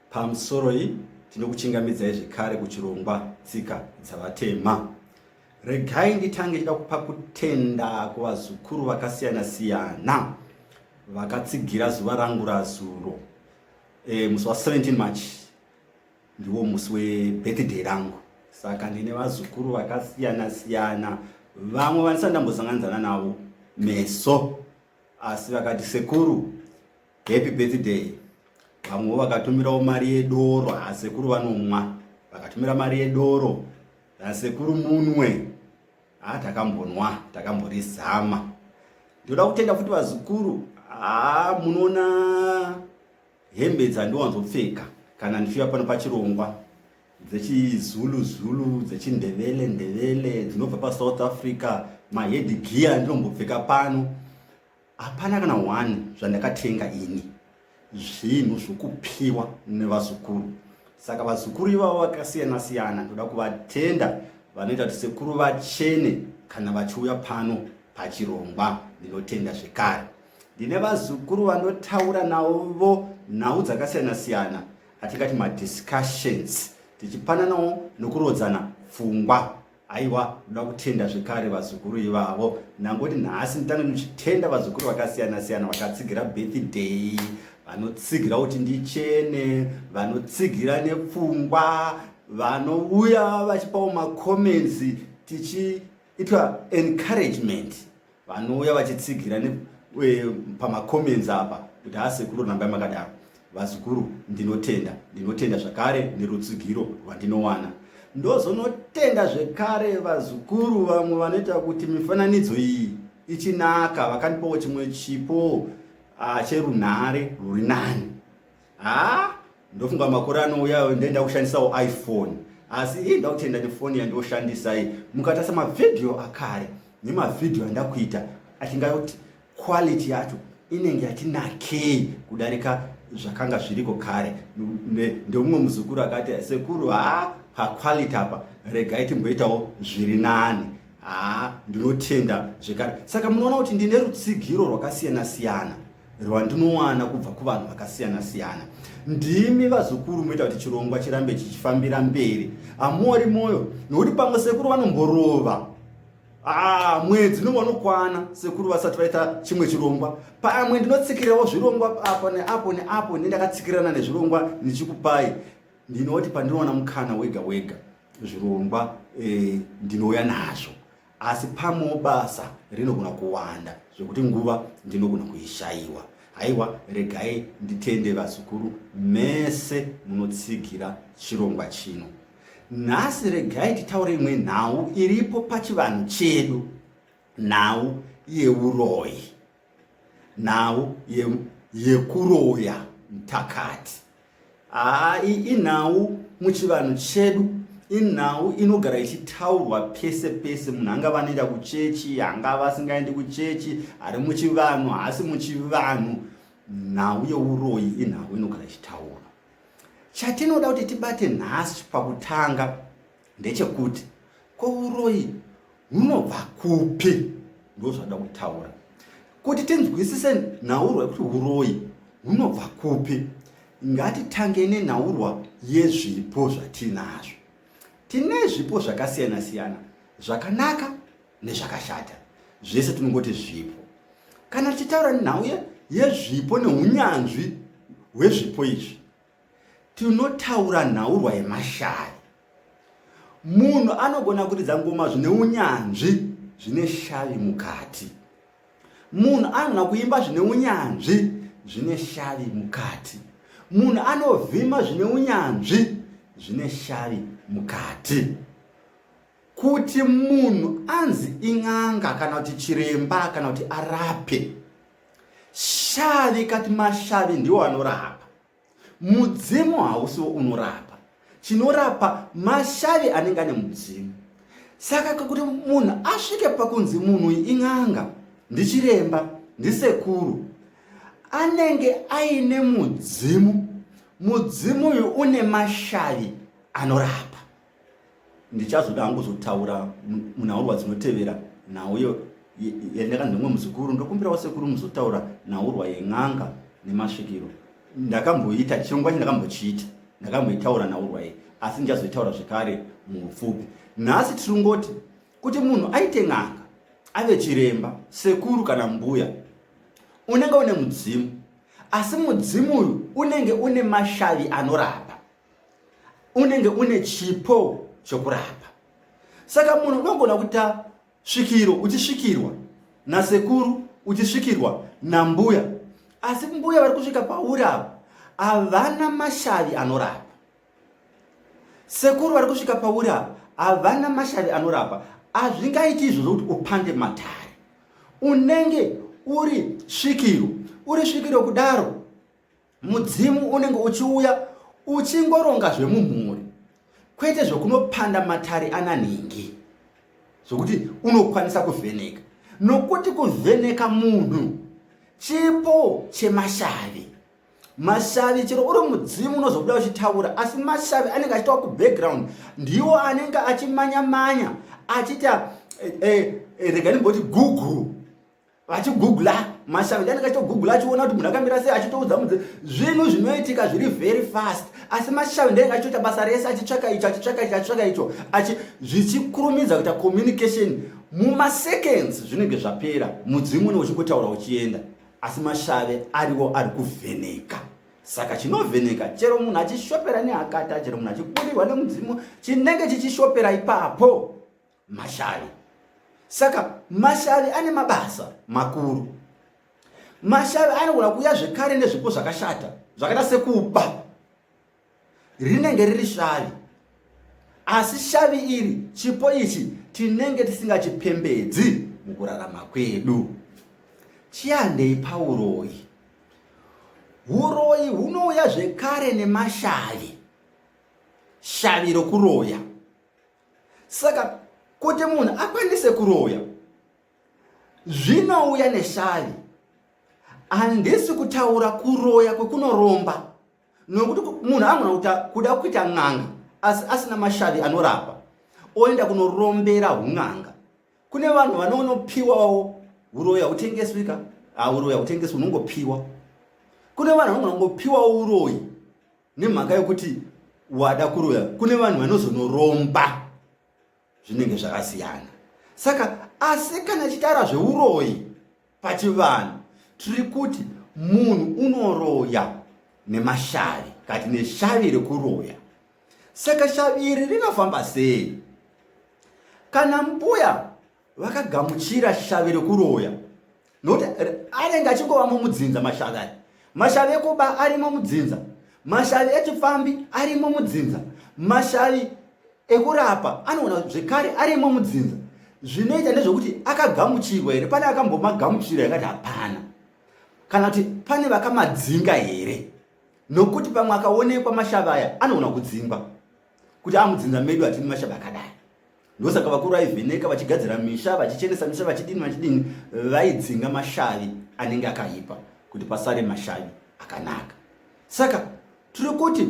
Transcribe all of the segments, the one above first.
Pamusoroi tinokuchingamidzai zvekare kuchirongwa tsika dzavatema. Regai nditange ndichida kupa kutenda kuvazukuru vakasiyana siyana vakatsigira zuva rangu razuro e, musi wa 17 march ndiwo musi webirthday rangu saka ndine vazukuru vakasiyana siyana vamwe vandisati ndambosanganidzana navo meso asi vakati sekuru Happy birthday. Vamwe vakatumirawo mari yedoro hasekuru vanomwa. Vakatumira mari yedoro hasekuru munwe. Ah takambonwa, takamborizama. Ndoda kutenda futi vazukuru. Ah munoona hembe dzandiwanzopfeka kana ndichiuya pano pachirongwa dzechizulu zulu dzechindevele ndevele dzinobva pasouth africa mahedgiya ndinombopfeka pano Hapana kana one zvandakatenga ini, zvinhu zvokupiwa nevazukuru. Saka vazukuru ivavo vakasiyana siyana, ndoda kuvatenda vanoita kuti sekuru vachene kana vachiuya pano pachirongwa. Ndinotenda zvekare, ndine vazukuru vanotaura navo nhau dzakasiyana siyana, atingati madiscussions, tichipananawo nokurodzana pfungwa Aiwa, ndoda kutenda zvekare vazukuru ivavo. Nangoti nhasi nditange ndichitenda vazukuru vakasiyana siyana vakatsigira birthday, vanotsigira kuti ndichene, vanotsigira nepfungwa, vanouya vachipawo macomments tichiitwa encouragement Vanouya vachitsigira pamacomments apa kuti haa sekuru rambai makadaro vazukuru ndinotenda ndinotenda zvakare nerutsigiro rwandinowana ndozonotenda zvekare vazukuru vamwe vanoita kuti mifananidzo iyi ichinaka vakandipawo chimwe chipo ah, cherunhare rwuri nani haa ndofunga makore anouyayo ndoenda kushandisawo iphone asi ii ndakutenda nefoni yandoshandisa iyi mukatasa mavhidhiyo akare nemavhidhiyo andakuita achinga kuti quality yacho inenge yatinakei kudarika zvakanga zviriko kare ndomumwe muzukuru akati sekuru haa paquality apa regai timboitawo zviri nani haa ndinotenda zvekare saka munoona kuti ndine rutsigiro rwakasiyana siyana rwandinowana kubva kuvanhu vakasiyana siyana ndimi vazukuru moita kuti chirongwa chirambe chichifambira mberi hamuori mwoyo nokuti pamwe sekuru vanomborova Ah, mwedzi unenge unokwana sekuru vasati vaita chimwe chirongwa pamwe ndinotsikirawo zvirongwa apo neapo neapo ne ndakatsikirana nezvirongwa ndichikupai ndinoti pandinoona mukana wega wega zvirongwa eh, ndinouya nazvo asi pamwewo basa rinogona kuwanda zvekuti nguva ndinogona kuishaiwa haiwa regai nditende vazukuru mese munotsigira chirongwa chino nhasi regai titaure imwe nhau iripo pachivanhu chedu nhau yeuroyi nhau yekuroya mtakati haa inhau muchivanhu chedu inhau inogara ichitaurwa pese pese munhu angava anoenda kuchechi angava asingaendi kuchechi ari muchivanhu haasi muchivanhu nhau yeuroyi inhau inogara ichitaurwa chatinoda kuti tibate nhasi pakutanga ndechekuti ko uroyi hunobva kupi ndozvada kutaura kuti tinzwisise nhaurwa yekuti uroyi hunobva kupi ngatitange nenhaurwa yezvipo zvatiinazvo tine zvipo zvakasiyana siyana zvakanaka nezvakashata zvese tinongoti zvipo kana tichitaura nhau yezvipo neunyanzvi hwezvipo izvi Tinotaura nhaurwa yemashaya. Munhu anogona kuridza ngoma zvine unyanzvi zvine shavi mukati. Munhu anogona kuimba zvine unyanzvi zvine shavi mukati. Munhu anovhima zvine unyanzvi zvine shavi mukati. Kuti munhu anzi in'anga kana kuti chiremba kana kuti arape, shavi kati mashavi ndiwo anorapa. Mudzimu hausiwo unorapa, chinorapa mashavi anenge ane mudzimu. Saka kuti munhu asvike pakunzi munhu in'anga, ndichiremba, ndisekuru, anenge aine mudzimu. Mudzimu uyu une mashavi anorapa. ndichazoda hangu kuzotaura munhaurwa dzinotevera nhau iyo yandakanzi nomwe muzukuru ndokumbirawo sekuru muzotaura nhaurwa yen'anga nemasvikiro ndakamboita chirongwa chi ndakambochiita ndakamboitaura nhaurwa iyi asi ndichazoitaura zvekare muupfupi nhasi tiringoti kuti munhu aite n'anga ave chiremba sekuru kana mbuya unenge une mudzimu asi mudzimu uyu unenge une mashavi anorapa unenge une chipo chokurapa saka munhu unogona kuita svikiro uchisvikirwa nasekuru uchisvikirwa nambuya asi mbuya vari kusvika pauri ava havana mashavi anorapa sekuru vari kusvika pauri ava havana mashavi anorapa hazvingaiti izvozvo kuti upande matare unenge uri svikiro uri svikiro kudaro mudzimu unenge uchiuya uchingoronga zvemumhuri kwete zvokunopanda matare ana nhingi zvokuti unokwanisa kuvheneka nokuti kuvheneka munhu chipo chemashavi mashavi chero uri mudzimu unozobuda uchitaura asi mashavi anenge achitawa kubackground ndiwo anenge achimanya manya achiita eh, eh, eh, rega ndimboti gugu vachigugula mashavi dani ngachitogugula achiona kuti munhu akamira sei achitoudza mudze zvinhu zvinoitika zviri very fast asi mashavi ndenge achitoita basa rese achitsvaka icho achitsvaka icho achitsvaka icho achi zvichikurumidza kuita communication mumaseconds zvinenge zvapera mudzimu une uchingotaura uchienda asi mashave ariwo ari kuvheneka saka chinovheneka chero munhu achishopera nehakata chero munhu achiburirwa nemudzimu chinenge chichishopera ipapo Mashavi. Saka mashavi ane mabasa makuru. Mashavi anogona kuuya zvekare nezvipo zvakashata zvakaita sekuba rinenge riri shavi asi shavi iri chipo ichi tinenge tisingachipembedzi mukurarama kwedu chiandei pauroyi uroyi hunouya zvekare nemashavi shavi rokuroya saka kuti munhu akwanise kuroya zvinouya neshavi handisi kutaura kuroya kwekunoromba nokuti munhu anogona kuda kuita n'anga asi asina mashavi anorapa oenda kunorombera un'anga kune vanhu vanonopiwawo uroya hutengeswika hauroya hutengeswi unongopiwa kune vanhu vanogona kungopiwawo uroyi nemhaka yokuti wada kuroya kune vanhu vanozonoromba zvinenge zvakasiyana saka asi kana chitaura zveuroyi pachivanhu tiri kuti munhu unoroya nemashavi kati neshavi rekuroya saka shavi iri rinofamba sei kana mbuya vakagamuchira shavi rekuroya nokuti anenge achingova mumudzinza mashavi aya mashavi ekuba arimo mudzinza mashavi echipfambi arimo mudzinza mashavi ekurapa anoona zvekare arimo mudzinza zvinoita ndezvekuti akagamuchirwa here pane akambomagamuchira yakati hapana kana kuti pane vakamadzinga here nokuti pamwe akaonekwa mashavi aya anoona kudzingwa kuti amudzinza medu hatini mashavi akadai ndosaka vakuru vaivheneka vachigadzira misha vachichenesa misha vachidini vachidini vaidzinga mashavi anenge akaipa kuti pasare mashavi akanaka saka tiri kuti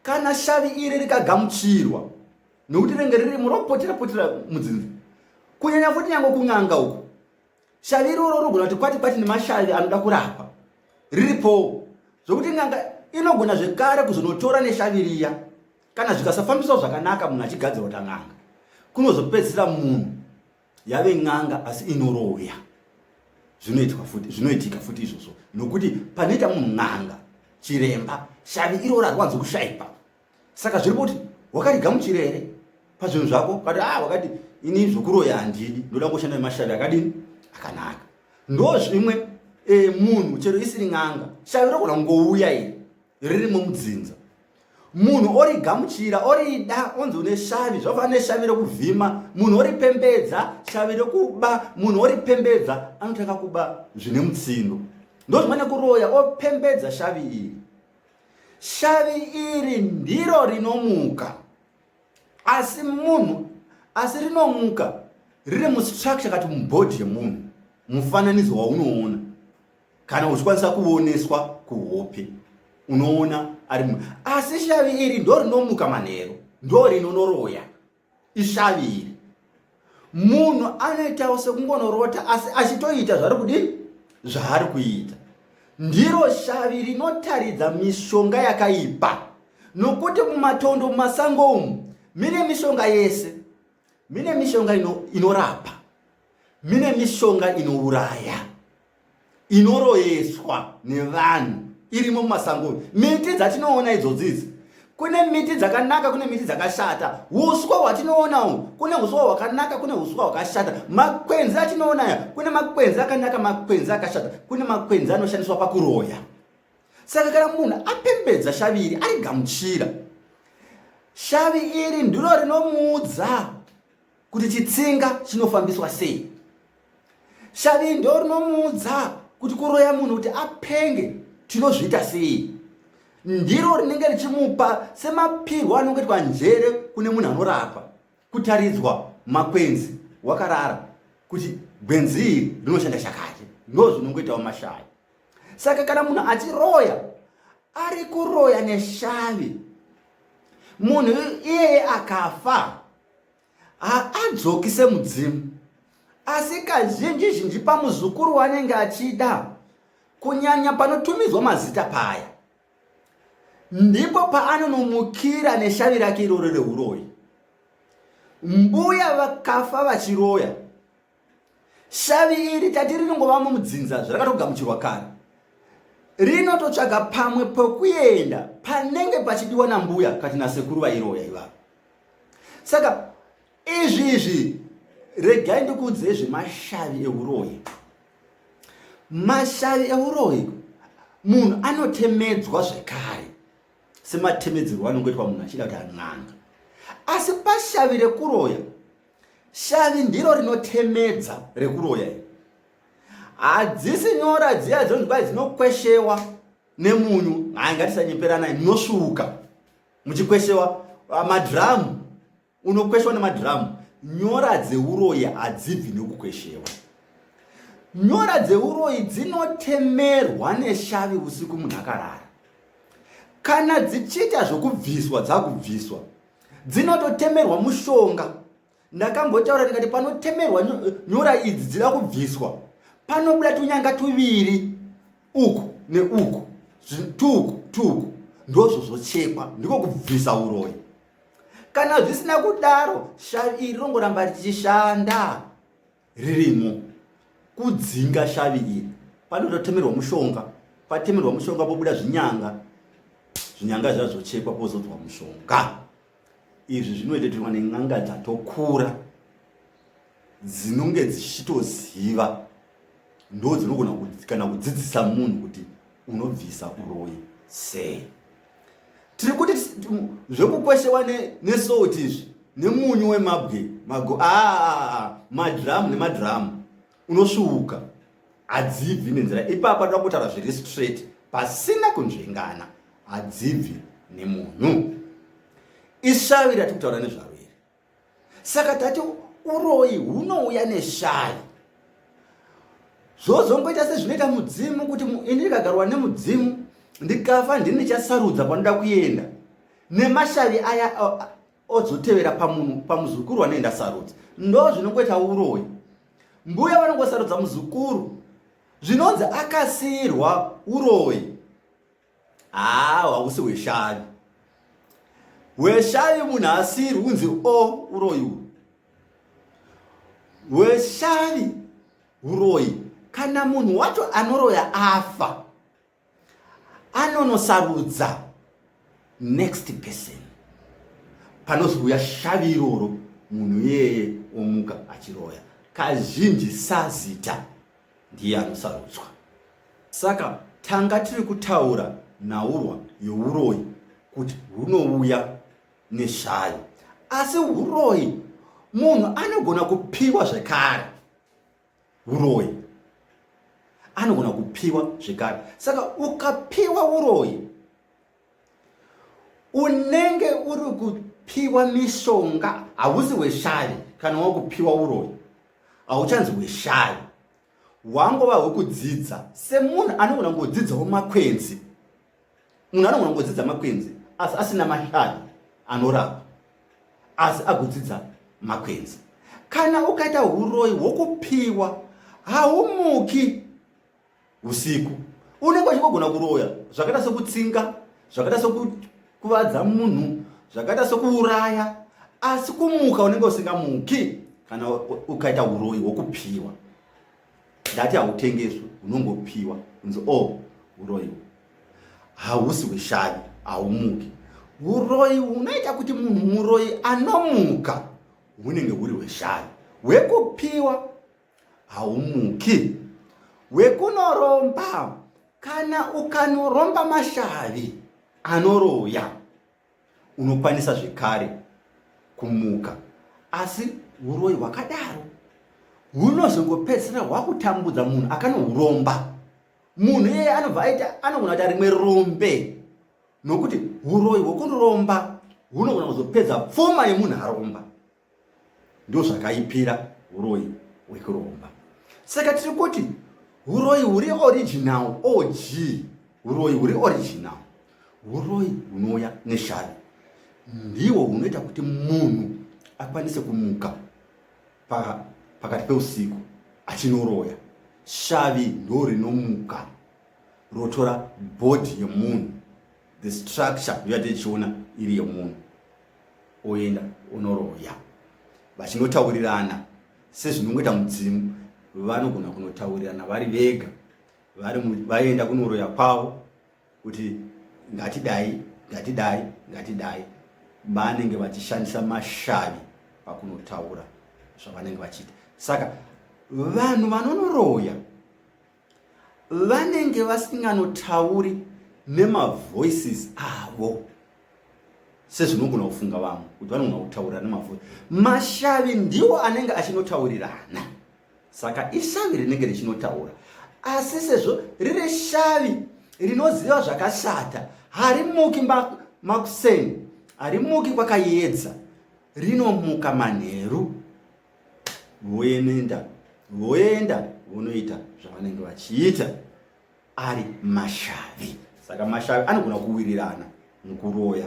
kana shavi iri rikagamuchirwa nokuti renge riri muropotera potera mudzinza kunyanya futi nyange kun'anga uku shavi iroro rogona kuti kwati kwati nemashavi anoda kurapa riripowo zvokuti n'anga inogona zvekare kuzonotora neshavi riya kana zvikasafambiswa zvakanaka munhu achigadzirwa ta n'anga kunozopedzisira munhu yave n'anga asi inoroya zvinoitwa futi zvinoitika futi izvozvo nokuti panoita munhu n'anga chiremba shavi iro rarwanzi kushaipa saka zviri kuti wakariga muchire here pazvinhu zvako ukati a ah, wakati ini zvokuroya handidi ndoda ngoshanda nemashavi akadini akanaka ndo zvimwe e, munhu chero isiri n'anga shavi rogona kungouya iri ririmo mudzinza munhu ori gamuchira orida onzi une shavi zvafana neshavi rokuvhima munhu ori pembedza shavi rokuba munhu ori pembedza anotanga kuba zvine mutsindo ndozvimane kuroya opembedza shavi iri shavi iri ndiro rinomuka asi munhu asi rinomuka riri mustructure kati mubhodhi yemunhu mufananidzo waunoona kana uchikwanisa kuoneswa kuhope unoona ari mu asi shavi iri ndo rinomuka manheru ndo rinonoroya ishavi iri munhu anoitawo sekungonorota asi achitoita zvari kudini zvaari kuita ndiro shavi rinotaridza mishonga yakaipa nokuti mumatondo mumasango umu mine mishonga yese mine mishonga inorapa ino mine mishonga inouraya inoroyeswa nevanhu irimo mumasango miti dzatinoona idzodzidzi kune miti dzakanaka kune miti dzakashata uswa hwatinoonawo kune uswa hwakanaka kune uswa hwakashata makwenzi atinoona aya kune makwenzi akanaka makwenzi akashata kune makwenzi anoshandiswa pakuroya saka kana munhu apembedza shavi iri ari gamuchira shavi iri ndiro rinomuudza kuti chitsinga chinofambiswa sei shavi ndo rinomuudza kuti kuroya munhu kuti apenge tinozviita sei ndiro rinenge richimupa semapirwo anonge itwa njere kune munhu anorapa kutaridzwa makwenzi wakarara kuti gwenzi iri rinoshanda chakati ndo zvinongoitawo mashavi saka kana munhu achiroya ari kuroya neshavi munhu iyeye akafa haadzoki semudzimu asi kazhinji zhinji pamuzukuru wanenge achida kunyanya panotumidzwa mazita paya ndipo paanonomukira neshavi rake iroro reuroyi mbuya vakafa vachiroya shavi iri tati rinongova mumudzinza zvarakatogamuchirwa kare rinototsvaga pamwe pokuenda panenge pachidiwa nambuya kati nasekuru vairoya ivavo saka izvi izvi regai ndikuudzei zvemashavi euroyi mashavi euroyi munhu anotemedzwa zvekare sematemedzerwo anongoitwa munhu achida kuti an'anga asi pashavi rekuroya Shavi ndiro rinotemedza rekuroya iri. Hadzisi nyora dziya dzonzi kwai dzinokweshewa nemunyu. Hayi ngatisanyeperanai munosvuuka muchikweshewa ah, madhiramu unokweshewa nemadhiramu. Nyora dzeuroyi hadzibvi nekukweshewa. Nyora dzeuroyi dzinotemerwa neshavi usiku munhu akarara. Kana dzichiita zvokubviswa dzakubviswa dzinototemerwa mushonga ndakambotaura ndikati panotemerwa nyora idzi dzida kubviswa panobuda tunyanga tuviri uku neuku tuku tuku ndozvo zvochekwa ndiko kubvisa uroyi kana zvisina kudaro shavi iri rongoramba richishanda ririmo kudzinga shavi iri panototemerwa mushonga patemerwa mushonga pobuda zvinyanga zvinyanga zvazochekwa pozodzwa mushonga izvi zvinoitetirwa nen'anga dzatokura dzinonge dzichitoziva ndo dzinogona kana kudzidzisa munhu kuti unobvisa uroyi sei tiri kuti zvekukweshewa nesalt izvi nemunyu wemabwe mago aa ah, ah, ah, madhiramu nemadhiramu unosvuuka hadzibvi nenzira ipapa toda kutaura zviri straight pasina kunzvengana hadzibvi nemunhu ishavi ratiri kutaura nezvaro saka tati uroyi hunouya neshaya zvozongoita sezvinoita mudzimu kuti ini ndikagarwa nemudzimu ndikafa ndini chasarudza panoda kuenda nemashavi aya ozotevera pamunhu pamuzukuru wanoenda sarudza ndo zvinongoita uroyi mbuya vanongosarudza muzukuru zvinonzi akasiyirwa uroyi haa hausi hweshavi hweshavi munhu asiri unzi o uroyi hweshavi uroyi kana munhu wacho anoroya afa anonosarudza next person panozouya shavi iroro munhu iyeye omuka achiroya kazhinji sazita ndiye anosarudzwa. Saka tanga tiri kutaura nhaurwa youroyi kuti hunouya nezvayo, asi uroyi munhu anogona kupiwa zvekare, uroyi anogona kupiwa zvekare. Saka ukapiwa uroyi unenge uri kupiwa mishonga hausi weshari kana wakupiwa uroyi hauchanzi weshari wangova hwekudzidza semunhu anogona kungodzidzawo makwenzi munhu anogona kungodzidza makwenzi asi asina mashari anorapa asi akudzidza makwenzi kana ukaita uroyi hwokupiwa haumuki usiku unenge uchingogona kuroya zvakaita sekutsinga zvakaita sekukuvadza munhu zvakaita sekuuraya asi kumuka unenge usingamuki kana ukaita uroyi hwokupiwa ndati hautengeswi unongopiwa kunzi o oh, uroyi hausi hweshavi haumuki uroyi hunoita kuti munhu muroyi anomuka hunenge huri hweshavi hwekupiwa haumuki wekunoromba kana ukanoromba mashavi anoroya unokwanisa zvekare kumuka asi uroyi hwakadaro hunozongopedzisira hwakutambudza munhu akanohuromba munhu iyeye anobva aita anogona kuita rimwe rombe nokuti uroyi hwekunoromba hunogona kuzopedza pfuma yemunhu aromba ndozvakaipira uroyi hwekuromba saka tiri kuti uroyi huri original og uroyi huri original uroyi hunouya neshari ndiwo hunoita kuti munhu akwanise kumuka pakati peusiku achinoroya shavi ndo rinomuka rotora bhodhi yemunhu the structure yoyati ichiona iri yemunhu oenda onoroya vachinotaurirana sezvinongoita mudzimu vanogona kunotaurirana vari vega vaenda kunoroya kwavo kuti ngatidai ngatidai ngatidai vanenge vachishandisa mashavi pakunotaura zvavanenge vachiita saka vanhu vanonoroya vanenge vasinganotauri nemavoices avo sezvinogona kufunga vamwe kuti vanogona kutaurira nemavoice mashavi ndiwo anenge achinotaurirana saka ishavi rinenge richinotaura asi sezvo riri shavi rinoziva zvakashata harimuki makuseni harimuki kwakayedza rinomuka manheru voenda voenda vonoita zvavanenge vachiita ari mashavi saka mashavi anogona kuwirirana mukuroya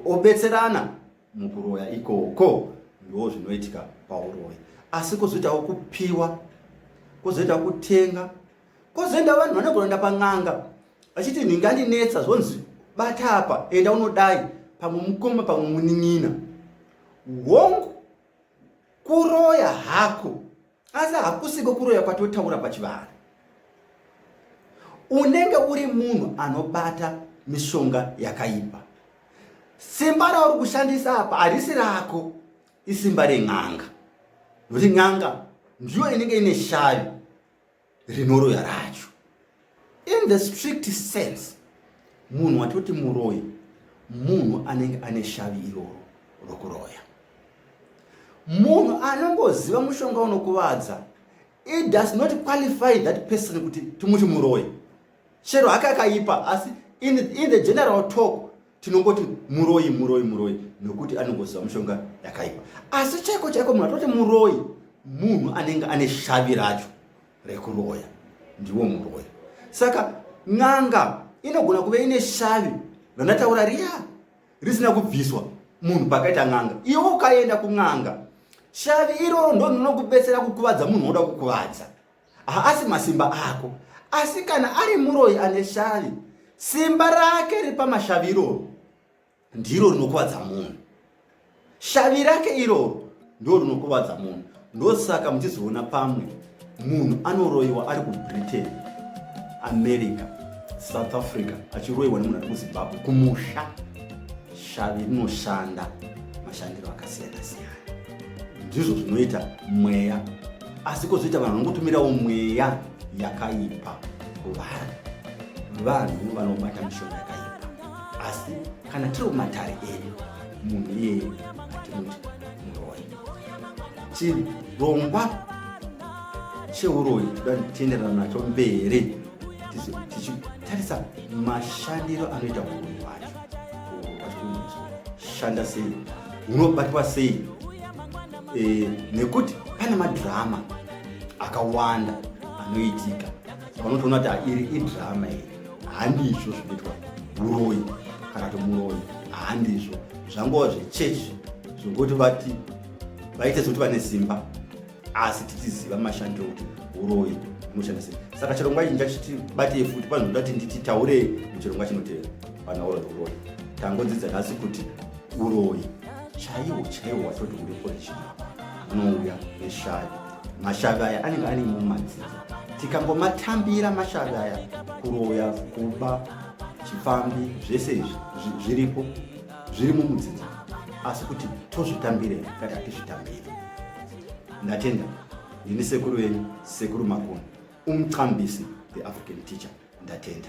obetserana mukuroya ikoko ndo zvinoitika pauroyi asi kozoitawo kupiwa kozoita kutenga kozoenda vanhu vanogonoenda pan'anga vachiti nhinga ndinetsa zvonzi bata apa enda unodai pamwe mukoma pamwe munin'ina hongu kuroya hako asi hakusiko kuroya kwatotaura pachivanhu unenge uri munhu anobata mishonga yakaipa simba rauri kushandisa apa harisi rako isimba ren'anga nokuti n'anga ndiyo inenge ine shavi rinoroya racho in the strict sense munhu watoti muroyi munhu anenge ane shavi iroro rokuroya munhu anongoziva mushonga unokuvadza it does not qualify that person kuti timuti muroyi chero hake akaipa asi in, in the general talk tinongoti muroyi muroyi muroyi nokuti anongoziva mushonga yakaipa asi chaiko chaiko munhu atoti muroyi munhu anenge ane shavi racho rekuroya ndiwo muroyi saka n'anga inogona kuve ine shavi ranataura riya risina kubviswa munhu pakaita n'anga iwe ukaenda kun'anga shavi iroro ndononokubetsera kukuvadza munhu woda kukuvadza haasi masimba ako asi kana ari muroyi ane shavi simba rake ripamashavi iroro ndiro rinokuvadza munhu shavi rake iroro ndo rinokuvadza munhu ndosaka muchizoona pamwe munhu anoroyiwa ari kubritain america south africa achiroyiwa nemunhu ari kuzimbabwe kumusha shavi rinoshanda mashandiro akasiyana siyana ndizvo zvinoita mweya asi kozoita vanhu vanongotumirawo mweya yakaipa kuvanhu vanhu vanobata mishonga yakaipa asi kana tiri kumatare edu munhu iyeye atimuti muroyi chirongwa cheuroyi toda tienderana nacho mberi tichitarisa mashandiro anoita uroyi wacho shanda sei unobatwa sei e, nekuti pane madhirama akawanda anoitika vanotoona kuti iri idhirama iri handizvo zvinoitwa uroyi kana kuti muroyi handizvo zvangova zvechechi zvokuti vati vaite zvokuti vane simba asi tichiziva mashandiro kuti uroyi unoshanda sei saka chirongwa ichi ndichachitibatei futi panozoda kuti ndichitaurei muchirongwa chinotevera panaura uroyi tangodzidza nhasi kuti uroyi chaiwo chaiwo watoti uri origina unouya neshavi mashavi aya anenge ane mumadzidzo tikangomatambira mashavi aya kuroya kuba chipfambi zvese izvi zviripo zviri mumudzidzo asi kuti tozvitambire kati hatizvitambire ndatenda ndini sekuru venyu sekuru makoni umxambisi the african teacher ndatenda